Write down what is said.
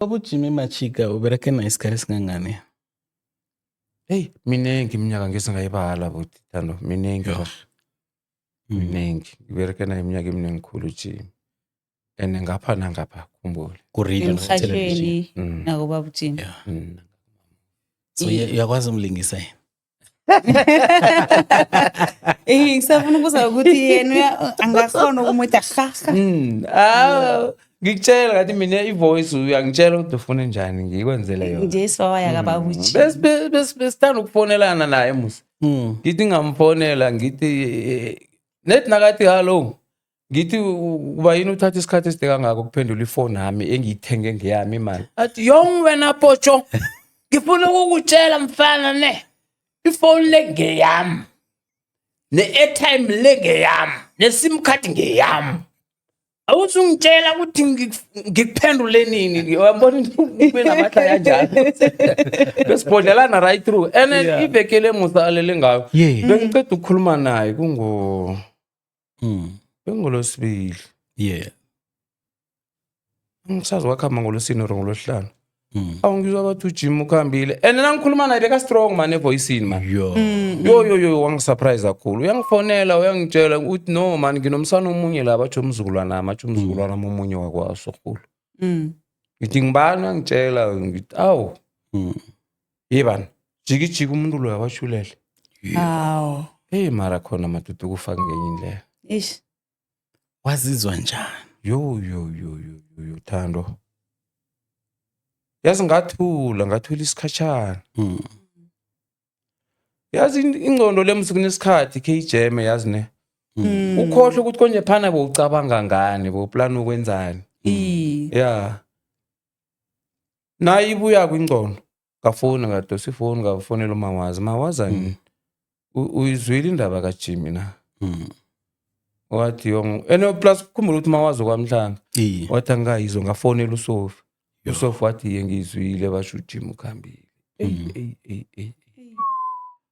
Baba uJimmy Machika ubereke naye isikhathi esingangani? Hey, miningi iminyaka ngesingayibala buti Thando, miningi Yho. bafo. Mm. Miningi. Ngibereke naye iminyaka eminingi khulu uJimmy. And ngapha nangapha khumbule. Ku-radio nakuthelevishini. emhatshweni Mm. nakobaba ujimi Yeah. Mm. So uya- uyakwazi umlingisa yena? Eh ngisafuna ukuza ukuthi yena angakhona ukumuthi ahaha. Mm. Ah ngikutshela ngathi mina i-voice uyangitshela ukuthi ufuna njani ngikwenzele yona. Nje sibawaya mm. kabakuthi. Bes bes besithanda ukufonelana naye musa. Mm. Ngithi ngamfonela ngithi eh, net nakathi hello. ngithi uba yini uthatha isikhathi eside kangako ukuphendula ifoni yami engiyithenge ngeyami imali athi yong wena potsho ngifuna ukukutshela mfana ne ifoni le ngeyami ne-airtime le ngeyami ne-sim card ngeyami awuzungitshela ukuthi ngikuphendule nini uyabona ube namahlaya njalo besibhodlelana right through and ivekele musa alele ngayo bengiceda ukukhuluma naye kungo Mm. Bengolosibili. Yeah. Ngisazi wakhamba ngolosini or ngolosihlanu. Mm. Awu ngizwa bathi uJim ukhambile. And nina ngikhuluma naye beka strong man evoicini man. Yo. Mm. Yo yo yo wangisurprise kakhulu. Uyangifonela uyangitshela ukuthi no man nginomsana omunye la bathi umzukulwana nami athi umzukulwana mm. omunye wakwaso khulu. Mm. Ngithi ngibani angitshela ngithi awu. Mm. ye bani jikijiki umuntu loyo awashulele hawu heyi mara khona madoda ukufa ngenye indlela ish wazizwa njani yo yo yo yo yo yo thando yazi ngathula ngathula isikhatshana Mm. yazi in- ingcondo lemusi kunesikhathi kheyijeme yazi ne Mm. ukhohle ukuthi konje phana bowucabanga ngani bowuplana ukwenzani i ya nayo ibuya kwingcono ngafoni ngadosa ifoni ngafonela umawazi mawazi ani u- uyizwile indaba kajimi na wathi yong and plus khumbula ukuthi mawazi okwamhlanga Iye. wathi angikayizwa ngafonela usofa Yo. usofa wathi ye ngiyizwile basho ujimi ukhambile Eyi, eyi, eyi, eyi.